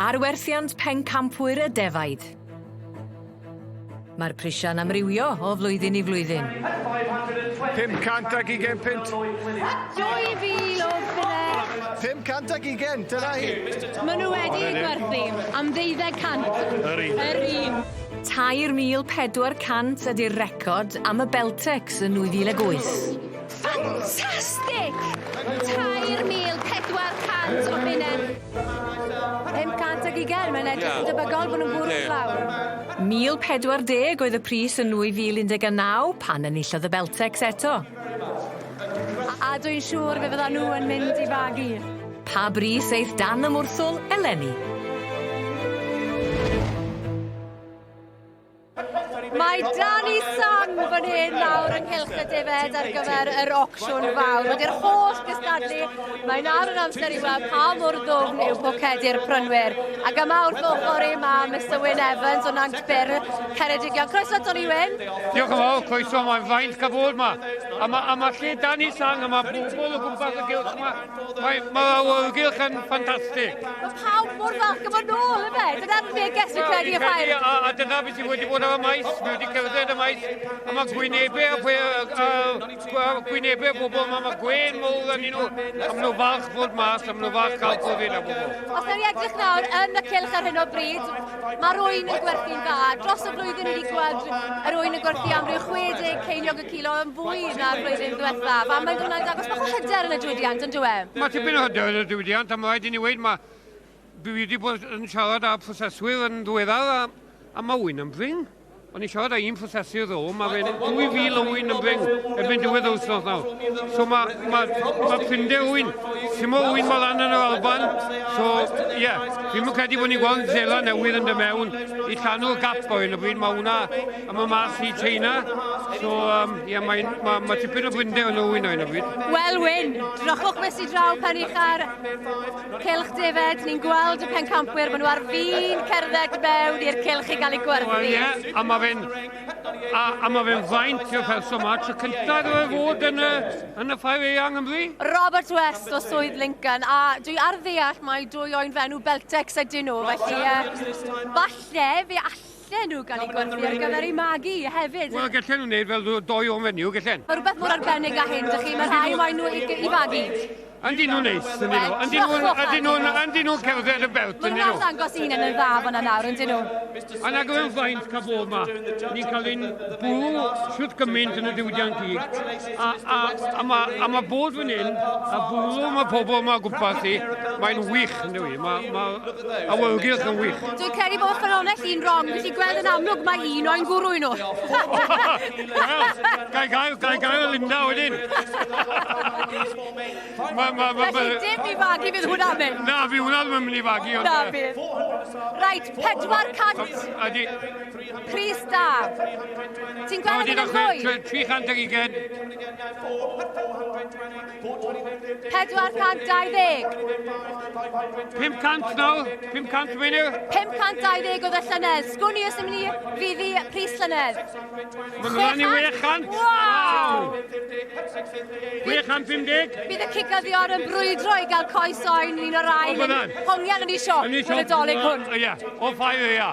Arwerthiant pencampwyr y defaid. Mae'r prisiau'n amrywio o flwyddyn i flwyddyn. 500 ag 20 pint. 2000 o bydde. 500 ag 20, dyna hi. Maen nhw wedi gwerthu am ddeuddeg cant. Yr un. Yr un. 3,400 ydy'r record am y Beltex yn 2008. Ffantastig! 3,400 o bunnau. 500 ag ugain, mae'n edrych yn debygol bod nhw'n bwrw i lawr. 1,040 oedd y pris yn 2019 pan enillodd y Beltex eto. A dw i'n siŵr fe fyddan nhw yn mynd i fagu. Pa bris aeth dan y mwrthwl eleni? Mae Danny Sun fan hyn nawr ynghylch y defaid ar gyfer yr ocsiwn fawr. Wedi'r holl gystadlu, mae nawr yn amser i weld pa mor ddwfn yw pocedi'r prynwyr. Ac yma wrth ochr i mae Mr Wyn Evans o Nant Byr, Ceredigion. Croeso Tony Wyn. Diolch yn fawr, croeso, mae'n faint cael bod yma. A mae, a mae lle Danny Sun, a mae bobl o gwmpas y gylch yma. Mae, mae awyrgylch yn ffantastig. Mae pawb mor falch yma nôl, efe? Dyna'r neges fi'n credu y ffair. A, a dyna beth sy'n wedi bod ar y maes, mae wedi cerdded y maes, a mae gwynebau a, pwe, a, a gwynebau bobl, mae, mae gwein mowr yn nhw, a maen nhw falch fod mas, a maen nhw falch cael cofyd a bobl. Os nawr i edrych nawr yn y cilch ar hyn o bryd, mae'r oen yn gwerthu'n dda. Dros y flwyddyn ni wedi gweld yr oen yn gwerthu am ryw 60 ceiniog kilo yn fwy na'r flwyddyn diwethaf, a mae hwnna'n dangos bach o hyder yn y diwydiant, yn dywe? Mae tipyn o hyder yn y diwydiant, a mae rhaid i ni weid, mae... Dwi wedi bod yn siarad â proseswyr yn ddiweddar, a, a mae wy'n ymdring. O'n i'n siarad â un prosesu ddo, mae fe'n 2,000 o wy'n ymdring erbyn diwedd yr wythnos nawr. So mae, mae, mae prinder wy'n, sy'n o wy'n malan yn yr Alban, so ie, yeah, fi'n credu bod ni'n gweld zela newydd yn dy mewn i llanw'r gap o hyn o bryd, mae hwnna A mae mas i China, so um, yeah, mae, ma, ma tipyn o gwynde yn ôl yno bryd. Wel, Wyn, drochwch fes i draw pan i'ch ar cilch defed. Ni'n gweld y pencampwyr, maen nhw ar fin cerdded mewn i'r cilch i gael ei gwerthu. Wel, ie, yeah, a mae fe'n a, a mae fe'n faint o felso yma. Tro cyntaf iddo fe fod yn y, yn y ffair eang yn fwy? Robert West o Swydd Lincoln, a dwi ar ddeall mae dwy o'n fenw Beltex ydyn nhw, felly uh, falle fe all Gallen nhw gael eu gwerthu ar gyfer eu magu hefyd. Wel, gallen nhw wneud fel doi o'n fenyw, gallen. Mae rhywbeth mor arbennig â hyn, dych chi, mae rhai waen nhw i, i fagu. Yndyn nhw'n neis, yndyn nhw. Yndyn nhw'n ydyn nhw'n ydyn nhw'n cerdded y belt, yndyn nhw. Mae'n dangos un yn y dda fan yna, yndyn nhw. A na gyfe'n faint cael bod yma. Ni'n cael ein bwrw siwt gymaint yn y diwydiant gig. A, a, a mae a ma bod fan hyn, a bwlw mae pobl yma gwmpas i, mae'n wych yn dwi. Mae ma awyrgylch yn wych. Dwi'n credu bod ffynonell un wrong, felly gweld yn amlwg mae un o'n gwrw i nhw. Gai gael, gai gael Linda wedyn. Mae, mae, mae... Felly dim i fagu fydd hwnna mynd. Na, fi hwnna ddim yn mynd i fagu. Na, bydd. Rhaid, 400. Ydy. Pris da! Ti'n gweld yn eich mwy? 300 ugen. 420. 500 nawr, 500 menu. 520 oedd y llynedd. Sgwn i os ymwneud ni fi fi pris llynedd. Mae'n rhan i 600. Wow! 650. Bydd y cigyddion yn brwydro i gael coes oen yn un o'r rhain. Hongian yn ei siop, yn y dolyg hwn. Ia, o ffair ia.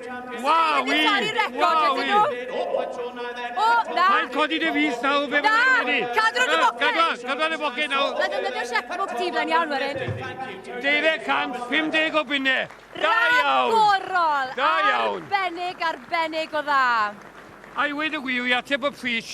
Waw! Dwi'n caru record ydyn nhw. O, na. Mae'n codi dy fus nawr, fe Na, cadw'r yn y boced. Cadw'r, cadw'r yn y boced nawr. Mae'n defnyddio checkbook ti flaen iawn, Warren. 250 o bunne. Da iawn. Ragorol. Da iawn. Arbennig, arbennig o dda. I weid y gwir, i ateb y pris,